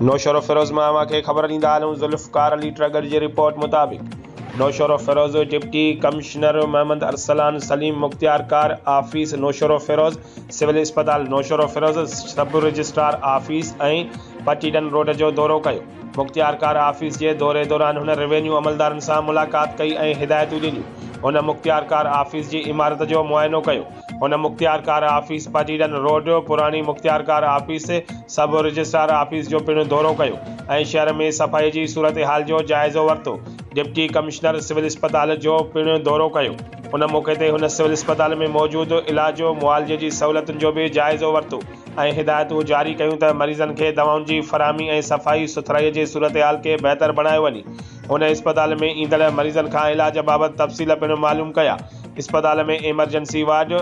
نوشهروفيروز مان اوهان کي خبر ڏيندا هلون ذوالفقار علي ٽرڳڙ جي رپورٽ مطابق نوشهروفيروز ڊپٽي ڪمشنر محمد ارسلان سليم مختيارڪار آفيس نوشهروفيروز، سول اسپتال Naushahro Feroze, sub registrar office ۽ Patidan road جو دورو ڪيو. مختيارڪار آفيس جي دوري دوران هن روينيو عملدارن سان ملاقات ڪئي ۽ هدايتون ڏنيون. هن مختيارڪار آفيس جي عمارت جو معائنو ڪيو. هن مختيارڪار آفيس، پٽيڏن روڊ، پراڻي مختيارڪار آفيس، سب رجسٽرار آفيس جو پڻ دورو ڪيو ۽ شهر ۾ صفائي جي صورتحال جو جائزو ورتو. ڊپٽي ڪمشنر سول اسپتال جو پڻ دورو ڪيو. ان موقعي تي هن سول اسپتال ۾ موجود علاج و معالجي جي سهولتن جو به جائزو ورتو ۽ هدايتون جاري ڪيون ته مريضن کي دوائن جي فراهمي ۽ صفائي سٿرائي جي صورتحال کي بهتر بڻايو وڃي. هن اسپتال ۾ ايندڙ مريضن کان علاج بابت تفصيل پڻ معلوم ڪيا. اسپتال ۾ emergency ward,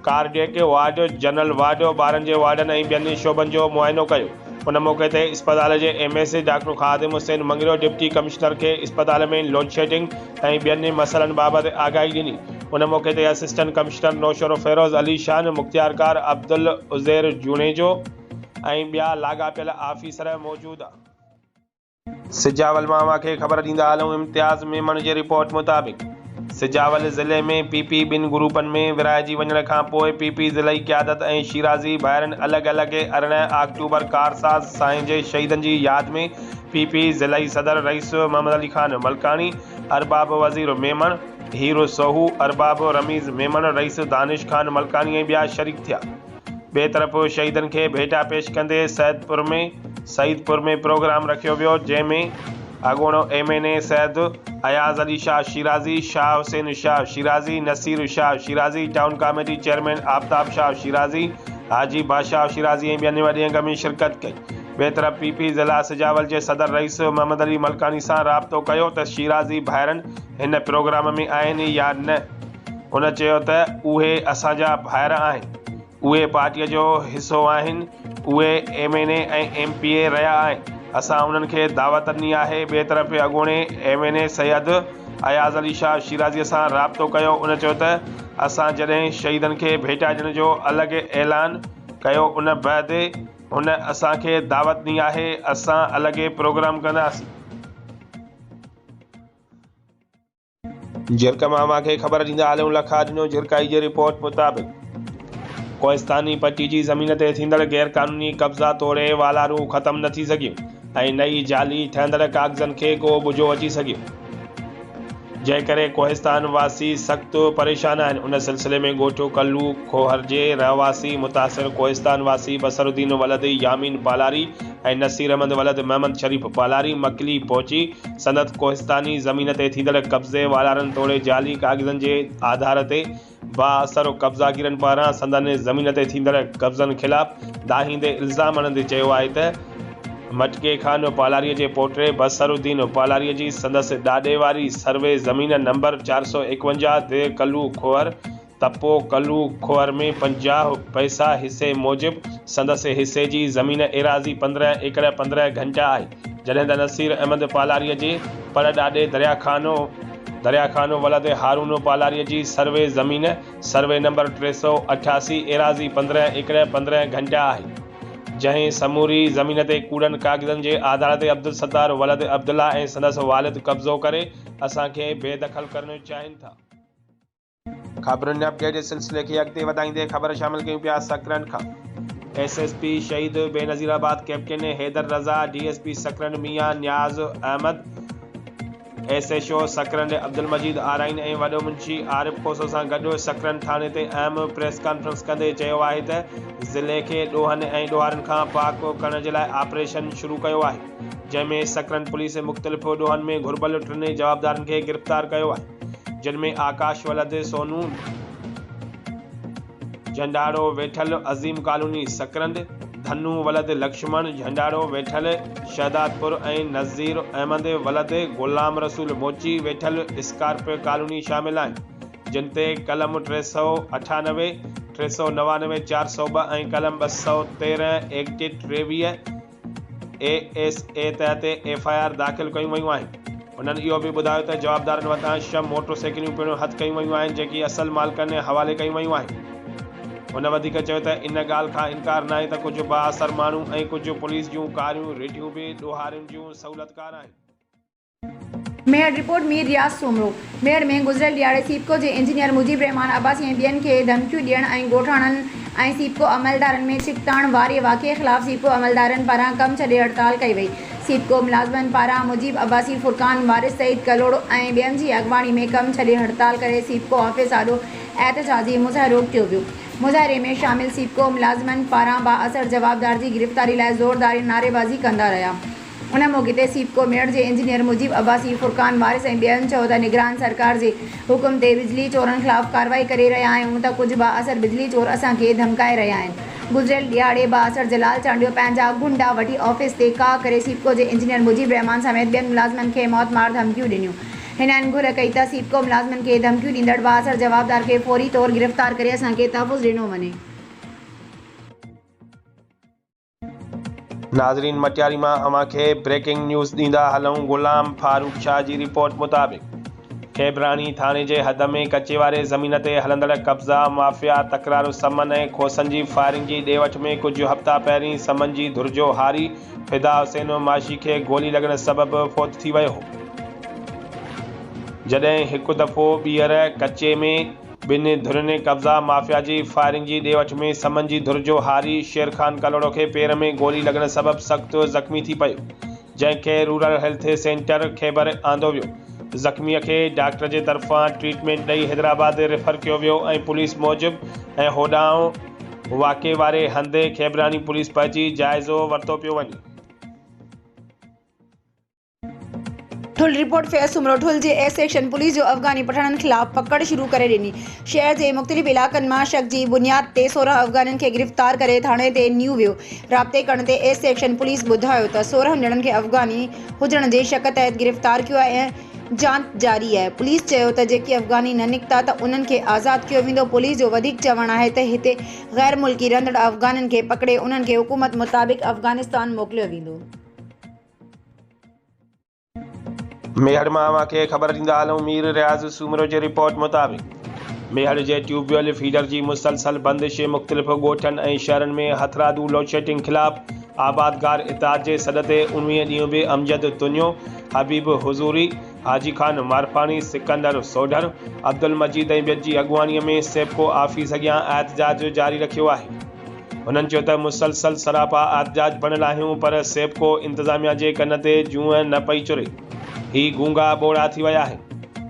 cardiac ward, general ward, ٻارن جي وارڊن ۽ ٻين شعبن جو معائنو ڪيو. ان موقعي تي اسپتال جي M S doctor Khadim Hussain Mangrio deputy commissioner کي اسپتال ۾ لوڊشيڊنگ ۽ ٻين مسئلن بابت آگاهي ڏني. ان موقعي تي اسسٽنٽ ڪمشنر نوشهروفيروز علي شان، مختيارڪار عبدالعزير جوڻيجو ۽ ٻيا لاڳاپيل آفيسر موجود. سجاول ماما کي خبر ڏيندا هلون امتياز ميمڻ جي رپورٽ مطابق سجاول ضلعي ۾ پي پي ٻن گروپن ۾ ورهائجي وڃڻ کان پوء پي پي ضلعي قيادت ۽ شيرازي ڀائرن الڳ الڳ ارڙهن آڪٽوبر ڪارساز سائين جي شهيدن جي ياد ۾ پي پي ضلعي صدر رئيس محمد علي خان ملڪاڻي ارباب وزير ميمڻ هيرو سوهو ارباب رميز ميمڻ رئيس دانش خان ملڪاڻي ۽ ٻيا شريڪ ٿيا. ٻئي طرف شهيدن کي ڀيٽا پيش ڪندي سيدپور ۾ سعيدپور ۾ پروگرام رکيو ويو جنهن ۾ اڳوڻو M N A Syed Ayaz Ali Shah Shirazi, Shah Hussain Shah Shirazi, Naseer Shah Shirazi, town committee chairman Aftab Shah Shirazi, Haji Badshah Shirazi ۽ ٻين وڏي انگ ۾ شرڪت ڪئي. ٻئي طرف پي پي ضلع سجاول جي صدر رئيس محمد علي ملڪاڻي سان رابطو ڪيو ته شيرازي ڀائرن هن پروگرام ۾ آهن يا نه؟ هن چيو ته اهي اسان جا ڀائر آهن، اهي پارٽيء جو حصو آهن، اهي M N A ۽ M P A رهيا آهن، اسان انهن کي دعوت ڏني آهي، ٻئي طرف اڳوڻي M N A Syed Ayaz Ali Shah شيرازيء سان رابطو ڪيو، ان چيو ته اسان جڏهن شهيدن کي ڀيٽائجڻ جو الڳ اعلان ڪيو ان بعد هن اسان کي دعوت ڏني آهي، اسان الڳ پروگرام ڪنداسين. جهرڪ ماما کي خبر ڏيندا هليون لکا ڏنو جهرڪائي جي رپورٽ مطابق ڪوهستاني پٽي جي زمين تي ٿيندڙ غير قانوني قبضا توڙي والارون ختم نه ٿي سگهيون ۽ نه ئي جعلي ٺهندڙ ڪاغذن کي ڪو ٻجهو اچي سگهيو جنهن ڪري ڪوهستان واسي سخت پريشان آهن ان سلسلي ۾ ڳوٺ ڪلو کوهر جي رهواسي متاثر ڪوهستان واسي بصر الدين ولد يامين پالاري ۽ نصير احمد ولد محمد شريف پالاري مڪلي پهچي سنت ڪوهستاني زمين تي ٿيندڙ قبضي والارن توڙي جعلي ڪاغذن جي آڌار تي بااثر قبضاگيرن پاران سندن زمين تي ٿيندڙ قبضن خلاف دانهيندي الزام هڻندي چيو آهي ته مٽڪي خان پالاريء جي پوٽي بصر الدين پالاريء جي سندس ڏاڏي واري سروي زمين نمبر چار سؤ ايڪونجاهه دهه ڪلو کوهر تپو ڪلو کوهر ۾ پنجاهه پئسا حصي موجب سندس حصي جي زمين ايراضي پندرهن ايڪڙ پندرهن گهنٽا آهي، جڏهن ته نصير احمد پالاريء جي پڙ ڏاڏي دريا خانو دريا خانو ولد هارونو پالاريء جي سروي زمين سروي نمبر ٽي سؤ اٺاسي ايراضي پندرهن ايڪڙ پندرهن گهنٽا آهي، جنهن سموري زمين تي ڪوڙن ڪاغذن جي آڌار تي عبدالستار ولد عبدالله ۽ سندس والد قبضو ڪري اسان کي بي دخل ڪرڻ چاهين ٿا. خبرن جي اپڊيٽ جي سلسلي کي اڳتي وڌائيندي خبر شامل ڪيون پيا سڪرنڊ کان. S S P Shaheed Benazirabad captain Haider Raza, D S P Sakrand Mian Niaz Ahmed, S H O Sakrand Abdul Majeed Arain ۽ وڏو منشي عارف کوسو سان گڏ سڪرنڊ ٿاڻي تي اهم پريس ڪانفرنس ڪندي چيو آهي ته ضلعي کي ڏوهن ۽ ڏوهارين کان پاڪ ڪرڻ جي لاء آپريشن شروع ڪيو آهي جنهن ۾ سڪرنڊ پوليس مختلف ڏوهن ۾ گهربل ٽنهي جوابدارن کي گرفتار ڪيو آهي. جن ۾ آڪاش ولد سونو، جهنڊاڙو ويٺل عظيم ڪالوني سڪرنڊ، ڌنو ولد لڪشمڻ، جهنڊاڙو ويٺل شهدادپور ۽ نظير احمد ولد غلام رسول موچي ويٺل اسڪارپيو ڪالوني شامل آهن، جن تي قلم ٽي سؤ اٺانوي، ٽي سؤ نوانوي، چار سؤ ٻه ۽ قلم ٻه سؤ تيرنهن ايڪٽ ٽيويهه، اي ايس اي تحت ايف آء آر داخل ڪيون ويون آهن. هنن اهو به ٻڌايو ته جوابدارن وٽان ڇهه موٽر سائيڪليون پڻ هٿ ڪيون ويون آهن جيڪي اصل مالڪن حوالي ڪيون ويون آهن. هن وڌيڪ چيو ته ان ڳالهه کان انڪار ناهي ته ڪجهه بااثر ماڻهو ۽ ڪجهه پوليس جون ڪاريون رڍيون به ڏوهارين جون سهولتڪار آهن. ميهڙ، رپورٽ، مير رياض سومرو، ميهڙ ۾ گذريل ڏهاڙي سيپڪو جي انجنيئر مجيب الرحمان عباسي ۽ ٻين کي ڌمڪيون ڏيڻ ۽ ڳوٺاڻن ۽ سيپڪو عملدارن ۾ ڇڪتاڻ واري واقعي خلاف سيپڪو عملدارن پاران ڪم ڇڏي هڙتال ڪئي وئي. سيپڪو ملازمن پاران مجيب عباسي، فرقان وارث، سعيد ڪلهوڙو ۽ ٻين جي اڳواڻي ۾ ڪم ڇڏي هڙتال ڪري سيپڪو آفيس آڏو احتجاجي مظاهرو ڪيو ويو. مظاهري ۾ شامل سيپڪو ملازمن پاران بااثر جوابدار جي گرفتاري لاء زوردارين نعريبازي ڪندا رهيا. ان موقعي تي سيپڪو ميڙ جي انجنيئر مجيب عباسي، فرقان وارث ۽ ٻين چيو ته نگران سرڪار جي حڪم تي بجلي چورن خلاف ڪارروائي ڪري رهيا آهيون ته ڪجهه بااثر بجلي چور اسان کي ڌمڪائي رهيا آهن، گذريل ڏهاڙي بااثر جلال چانڊيو پنهنجا گنڊا وٺي آفيس تي ڪاهه ڪري سيپڪو جي انجنيئر مجيب الرحمان سميت ٻين ملازمن کي موت مار ڌمڪيون ڏنيون، هنن گهر ڪئي ته سيپڪو ملازمن کي ڌمڪيون ڏيندڙ بااثر جوابدار کي فوري طور گرفتار ڪري اسان کي تحفظ ڏنو وڃي. ناظرين مٽياري مان اوهان کي بريڪنگ نيوز ڏيندا هلون غلام فاروق شاهه جي رپورٽ مطابق کيبراڻي ٿاڻي جي حد ۾ ڪچي واري زمين تي هلندڙ قبضا مافيا تڪرارو سمن ۽ کوسن جي فائرنگ جي ڏي وٺ ۾ ڪجهه هفتا پهرين سمن جي ڌر جو هاري فدا حسين معاشي کي گولي لڳڻ سبب فوت ٿي ويو هو جڏهن هڪ دفعو ٻيهر ڪچي ۾ ٻنهي ڌرين قبضا مافيا جي فائرنگ جي ڏي وٺ ۾ سمن جي ڌر جو هاري شير خان ڪلهوڙو کي پير ۾ گولي لڳڻ سبب سخت زخمي ٿي پيو جنهن کي رورل هيلٿ سينٽر خيبر آندو ويو زخمي کي ڊاڪٽر جي طرفان ٽريٽمينٽ ڏئي حيدرآباد ريفر ڪيو ويو ۽ پوليس موجب ۽ هوڏانهن واقعي واري هنڌ خيبراڻي پوليس پهچي جائزو ورتو پيو وڃي. ٺل رپورٽ فيض سومرو ٺل جي ايس سيڪشن پوليس جو افغاني پٺاڻن خلاف پڪڙ شروع ڪري ڏني شهر جي مختلف علائقن مان شڪ جي بنياد تي سورهن افغانين کي گرفتار ڪري ٿاڻي تي نيو ويو رابطي ڪرڻ تي ايس سيڪشن پوليس ٻڌايو ته سورهن ڄڻن کي افغاني هجڻ جي شڪ تحت گرفتار ڪيو آهي ۽ جانچ جاري آهي پوليس چيو ته جيڪي افغاني نه نڪتا ته انهن کي آزاد ڪيو ويندو پوليس جو وڌيڪ چوڻ آهي ته هتي غير ملڪي رهندڙ افغانين کي پڪڙي انهن کي حڪومت مطابق افغانستان موڪليو ويندو. ميهڙ مان اوهان کي خبر ڏيندا هلون مير رياض سومرو جي رپورٽ مطابق ميهڙ جي ٽيوب ويل فيڊر جي مسلسل بندش مختلف ڳوٺن ۽ شهرن ۾ هٿرادو لوڊشيڊنگ خلاف آبادگار اتحاد جي سڏ تي اڻويهين ڏينهن به امجد تنيو، حبيب حضوري، حاجي خان مارپاڻي، سڪندر سوڍر، عبدالمجيد ۽ ٻين جي اڳواڻي ۾ سيپڪو آفيس اڳيان احتجاج جاري رکيو آهي. هنن چيو ته مسلسل سراپا احتجاج بڻيل آهيون پر سيپڪو انتظاميا جي ڪن تي جونء نه پئي چري هي گونگا ٻوڙا ٿي ويا آهن.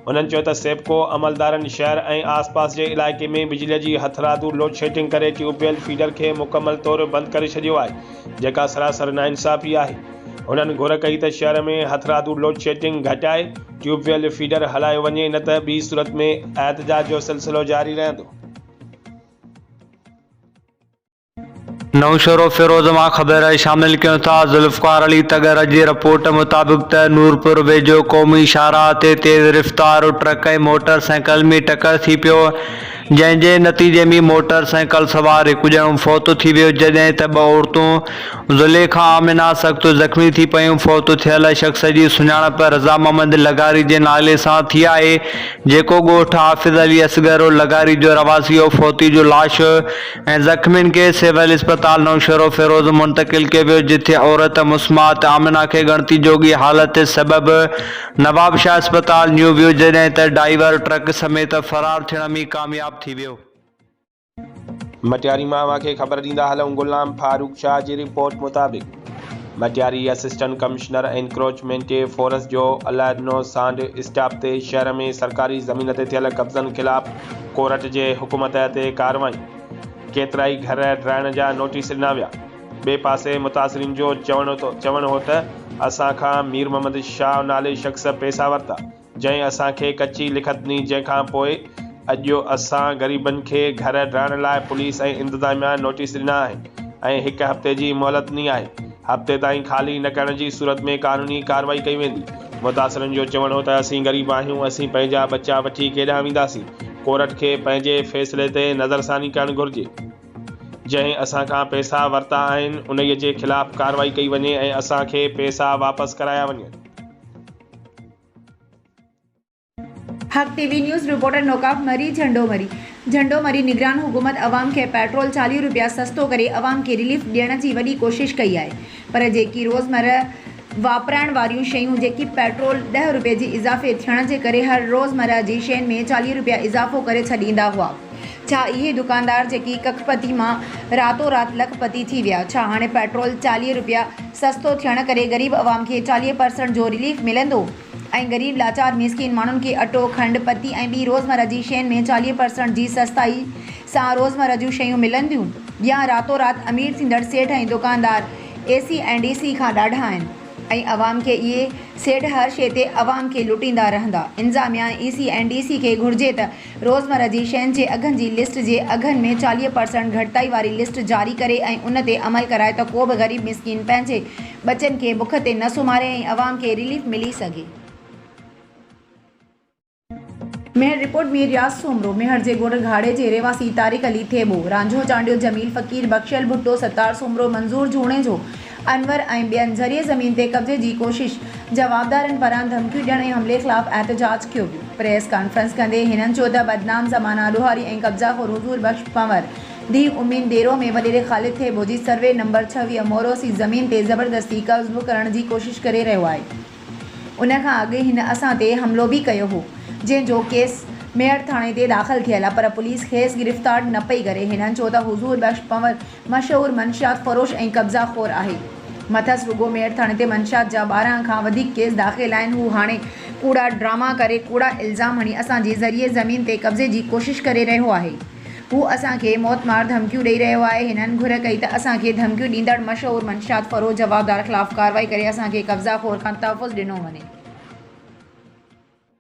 هنن چيو ته سيپڪو عملدارن شهر ۽ آس پاس جي علائقي ۾ بجلي جي هٿرادو لوڊشيڊنگ ڪري ٽيوب ويل فيڊر کي مڪمل طور بند ڪري ڇڏيو آهي جيڪا سراسر ناانصافي آهي. هنن گهر ڪئي ته شهر ۾ هٿرادو لوڊشيڊنگ گهٽائي ٽيوب ويل فيڊر هلايو وڃي نه ته ٻي صورت ۾ احتجاج جو سلسلو جاري رهندو. نوشهرو فيروز مان خبر شامل ڪيون ٿا ذوالفقار علي تڳر جي رپورٽ مطابق ته نورپور ويجهو قومي شاهراهه تي تيز رفتار ٽرڪ ۽ موٽر سائيڪل ۾ ٽڪر ٿي پيو جنهن جي نتيجي ۾ موٽر سائيڪل سوار هڪ ڄڻو فوت ٿي ويو جڏهن ته ٻه عورتون زليخا آمنه سخت زخمي ٿي پيون، فوت ٿيل شخص جي سڃاڻپ رضا محمد لغاري جي نالي سان ٿي آهي، جيڪو ڳوٺ حافظ علي اصغر عرف لغاري جو رهواسي هو، فوتي جو لاش ۽ زخمين کي سول اسپتال نوشهروفيروز منتقل ڪيو ويو، جٿي عورت مسمات آمنه کي ڳڻتي جوڳي حالت سبب نوابشاهه اسپتال نيو ويو جڏهن ته ڊائيور ٽرڪ سميت فرار ٿيڻ ۾ ڪامياب ٿي ويو. مٽياري مان اوهان کي خبر ڏيندا هلون غلام فاروق شاهه جي رپورٽ مطابق Matiari assistant commissioner encroachment force جو عليڏنو سانڍ اسٽاپ تي شهر ۾ سرڪاري زمين تي ٿيل قبضن خلاف ڪورٽ جي حڪم تحت ڪارروائي ڪيترائي گهر ڊرائڻ جا نوٽيس ڏنا ويا ٻئي پاسي متاثرين جو چوڻ هو ته اسان کان ميرمحمد شاهه نالي شخص پئسا ورتا جنهن اسان کي ڪچي لکت ڏني جنهن کان پوء اڄ اسان غريبن کي گهر ڊهڻ لاء پوليس ۽ انتظاميا نوٽيس ڏنا آهن ۽ هڪ هفتي جي مهلت ڏني آهي هفتي تائين خالي نه ڪرڻ جي صورت ۾ قانوني ڪارروائي ڪئي ويندي متاثرن جو چوڻ هو ته اسين غريب آهيون اسين پنهنجا ٻچا وٺي ڪيڏانهن وينداسين ڪورٽ کي پنهنجي فيصلي تي نظرثاني ڪرڻ گهرجي جنهن اسان کان پئسا ورتا آهن انهي جي خلاف ڪارروائي ڪئي وڃي ۽ اسان کي پئسا واپس ڪرايا وڃن. حق ٽي وي نيوز رپورٽر نوڪاف مري جهنڊو مري جهنڊو مري نگران حڪومت عوام کي پيٽرول چاليهه رپيا سستو ڪري عوام کي رليف ڏيڻ جي وڏي ڪوشش ڪئي آهي پر جيڪي روزمره واپرائڻ واريون شيون جيڪي پيٽرول ڏهه رپيي جي اضافي ٿيڻ جي ڪري هر روزمره جي شين ۾ چاليهه رپيا اضافو ڪري ڇڏيندا هئا ڇا اهي دڪاندار جيڪي ڪک پتي مان راتو رات لک پتي ٿي ويا ڇا هاڻي پيٽرول چاليهه رپيا سستو ٿيڻ ڪري غريب عوام کي چاليهه پرسنٽ جو رليف ملندو ۽ غريب لاچار مسڪين ماڻهن کي اٽو کنڊ پتي ۽ ٻي روزمره جي شين ۾ چاليهه پرسنٽ جي سستائي سان روزمره جون شيون ملنديون يا راتو رات امير ٿيندڙ سيٺ ۽ دڪاندار اي سي ۽ ڊي سي کان ڏاڍا آهن ۽ عوام کي اهي سيٺ هر شي تي عوام کي لٽيندا رهندا انظاميا ۽ اي سي ۽ ڊي سي کي گهرجي ته روزمره جي شين جي اگهن جي لسٽ جي اگهن ۾ چاليهه پرسنٽ گهٽتائي واري لسٽ جاري ڪري ۽ ان تي عمل ڪرائي ته ڪو به غريب مسڪين پنهنجي ٻچن کي بک تي نه سمهاري ۽ عوام کي رليف ملي سگهي. ميهڙ، رپورٽ، مير رياض سومرو، ميهڙ جي ڳوٺ گهاڙي جي رهواسي طارق علي ٿيٻو، رانجهو چانڊيو، جميل فقير، بخشيل ڀٽو، ستار سومرو، منظور جوڻيجو، انور ۽ ٻين زرعي زمين تي قبضي جي ڪوشش، جوابدارن پاران ڌمڪيون ڏيڻ ۽ حملي خلاف احتجاج ڪيو ويو. پريس ڪانفرنس ڪندي هنن چيو ته بدنام زمانه ڏوهاري ۽ قبضا خور حضور بخش پنور، ڊي امين ديرو ۾ وڏيري خالد ٿيٻو جي سروي نمبر ڇويهه موروثي زمين تي زبردستي قبضو ڪرڻ جي ڪوشش ڪري رهيو آهي. ان کان اڳ هن اسان تي حملو به ڪيو هو، جنهن جو ڪيس ميڙ ٿاڻي تي داخل ٿيل پر پوليس کيس گرفتار نه پئي ڪري. هنن چيو ته حضور بخش پنور، مشهور منشيات فروش ۽ قبضا خور آهي. مٿس رڳو ميڙ ٿڻ تي منشيات جا ٻارهن کان وڌيڪ ڪيس داخل آهن. هو هاڻي ڪوڙا ڊراما ڪري، ڪوڙا الزام هڻي اسان جي زرعي زمين تي قبضي جي ڪوشش ڪري رهيو آهي. هو اسان کي موت مار ڌمڪيون ڏئي رهيو آهي. هنن گهر ڪئي ته اسان کي ڌمڪيون ڏيندڙ مشهور منشيات فروش جوابدار خلاف ڪارروائي ڪري اسان کي قبضا خور کان تحفظ ڏنو وڃي.